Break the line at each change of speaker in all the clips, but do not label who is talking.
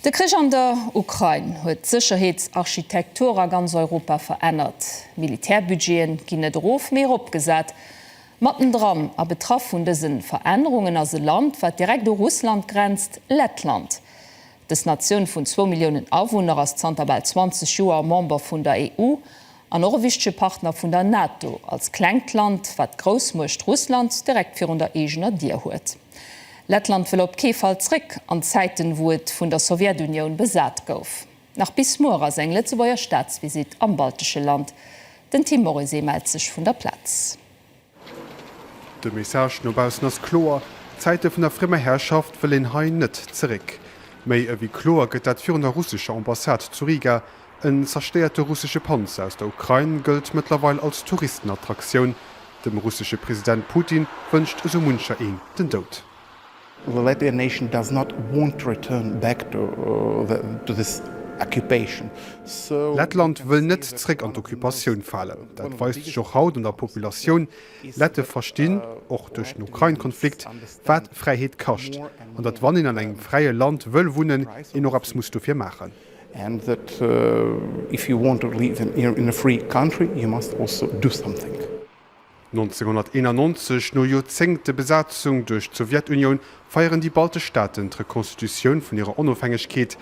De Krich an der Ukrain huet d'Sécherheetsarchitektur a ganz Europa verännert. D'Militärbudgete ginn net erof, mee eropgesat. Mattendran a betraff vun dëse Verännerungen ass e Land, wat direkt u Russland grenzt, Lettland. Dës Natioun vun zwou Milliounen Awunner ass zanter bal 20 Joer Member vun der EU an och e wichtege Partner vun der NATO, als klengt Land, wat d'Groussmuecht Russland direkt virun der eegener Dier huet. Lettland wëll op kee Fall zréck an d'Zäiten, wou et vun der Sowjetunioun besat gouf. Nach bis muer ass eng Lëtzebuerger Staatsvisitt am baltesche Land. Den Tim Morisé mellt sech vun der Plaz.
De Message no baussen ass kloer, D'Zäite vun der friemer Herrschaft wëll een hei net zeréck. Méi ewéi kloer gëtt dat virun der russescher Ambassade zu Riga. En zerstéierte russesche Panzer aus der Ukrain gëllt mëttlerweil als Touristenattraktioun. Dem russesche President Putin wënscht esou muncher een den Doud. The Latvian
nation does not want to return back to this occupation, so. Lettland wëll net
zréck an d'Occupatioun falen. Dat weist sech och haut an der Populatioun. Lette verstinn, och duerch den Ukrain-Konflikt, wat Fräiheet kascht, an datt wann een an engem fräie Land wëll wunnen, een och eppes muss dofir maachen. And that
if you want to live in a free country, you must also do something.
1991, no Joerzéngte Besatzung duerch d'Sowjetunioun, feieren déi baltesch Staaten d'Rekonstitutioun vun hirer Onofhängegkeet.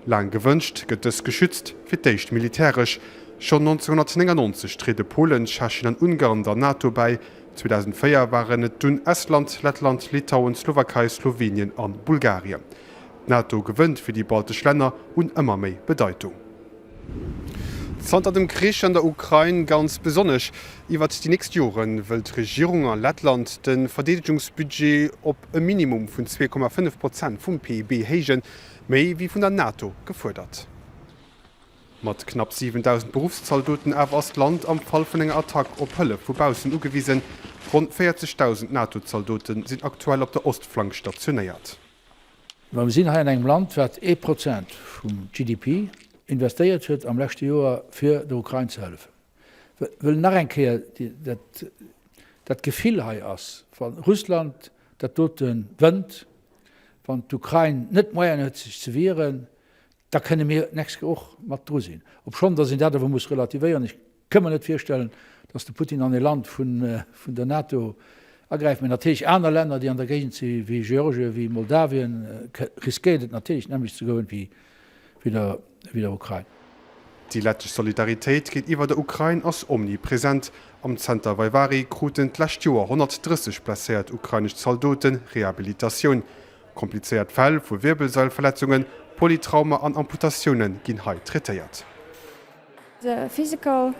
Laang gewënscht, gëtt dës geschützt, fir d'éischt militäresch. Schonn 1999 triede Polen, Tschechien an Ungarn der NATO bäi. 2004 waren et dunn Estland, Lettland, Litauen, d'Slowakei, Slowenien a Bulgarien. D'NATO gewënnt fir déi baltesch Länner un ëmmer méi Bedeitung. Zanter dem Krich an der Ukrain, ganz besonnesch iwwert déi nächst Jore wëll d'Regierung a Lettland de Verdeedegungsbudget op e Minimum vun 2,5 Prozent vum PIB héijen, méi wéi vun der NATO gefuerdert. Mat knapp 7.000 Beruffszaldoten awer ass d'Land am Fall vun enger Attack op Hëllef vu baussen ugewisen. Ronn 40.000 NATO-Zaldote sinn aktuell op der Ostflank stationéiert. Mä
mir sinn hei an engem Land, wat ee Prozent vum GDP investéiert huet am leschte Joer, fir der Ukrain ze hëllefen. Ech wëll nach eng Kéier dat Gefill hei ass, wa Russland dat dote wënnt, wann d'Ukrain net d'Moyene huet sech ze wieren, da kënne mir d'nächst Kéier och mat dru sinn, obschonn datt een dat awer muss relativéieren. Kënn mer net virstellen, datt de Putin an e Land vun der NATO agräift. Mee natierlech aner Länner, déi an der Géigend si wéi Georgien, wéi Moldawien, riskéiert et natierlech d'nämmlecht ze goen wéi der Ukrain. Déi lettesch
Solidaritéit géintiwwer der Ukrain ass omnipresent. Am Zenter Vaivari kruten d'lescht Joer 130 blesséiert ukrainesch Zaldoten Rehabilitatioun. Komplizéiert Fäll vu Wierbelsailverletzungen, Polytrauma an Amputatiounen ginn hei traitéiert. The
physical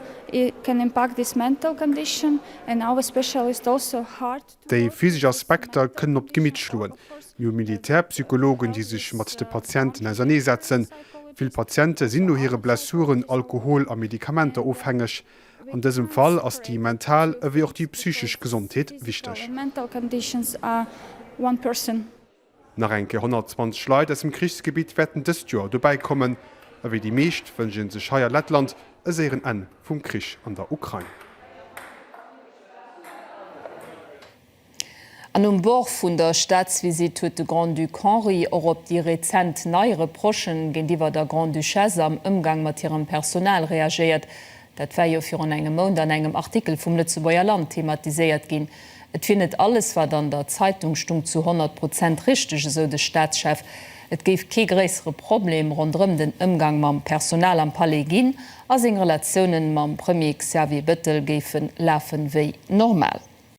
can impact this mental condition and our special is also hard to. Déi physesch
Aspekter kënnen op d'Gemitt schloen. Mir hu Militärpsychologen, déi sech mat de Patienten auserneesetzen. Vill Patiente sinn no hire Blessuren alkohol a Medikamenter ofhängeg. An dësem Fall ass déi mental ewéi och déi psychesch Gesondheet wichteg. Nach eng Kéier 120 Leit aus dem Krichsgebitt wäerten dëst Joer dobäi kommen. A wéi déi meescht wënscht ee sech hei a Lettland e séieren Enn vum Krich an der Ukrain.
An um Bord vun der Staatsvisitt huet de Grand-Duc Henri och op déi rezent nei Reprochen géintiwwer der Grande-Duchesse am Ëmgang mat hirem Personal reagéiert. Dat war jo virun engem Mount an engem Artikel vum Lëtzebuerger Land thematiséiert ginn. Et wier net alles, wat an der Zeitung stung, zu 100 Prozent richteg, esou de Staatschef. Et géif kee gréissere Problem ronderëm den Ëmgang mam Personal am Palais ginn a seng Relatiounen mam Premier Xavier Bettel géife lafen, wéi normal.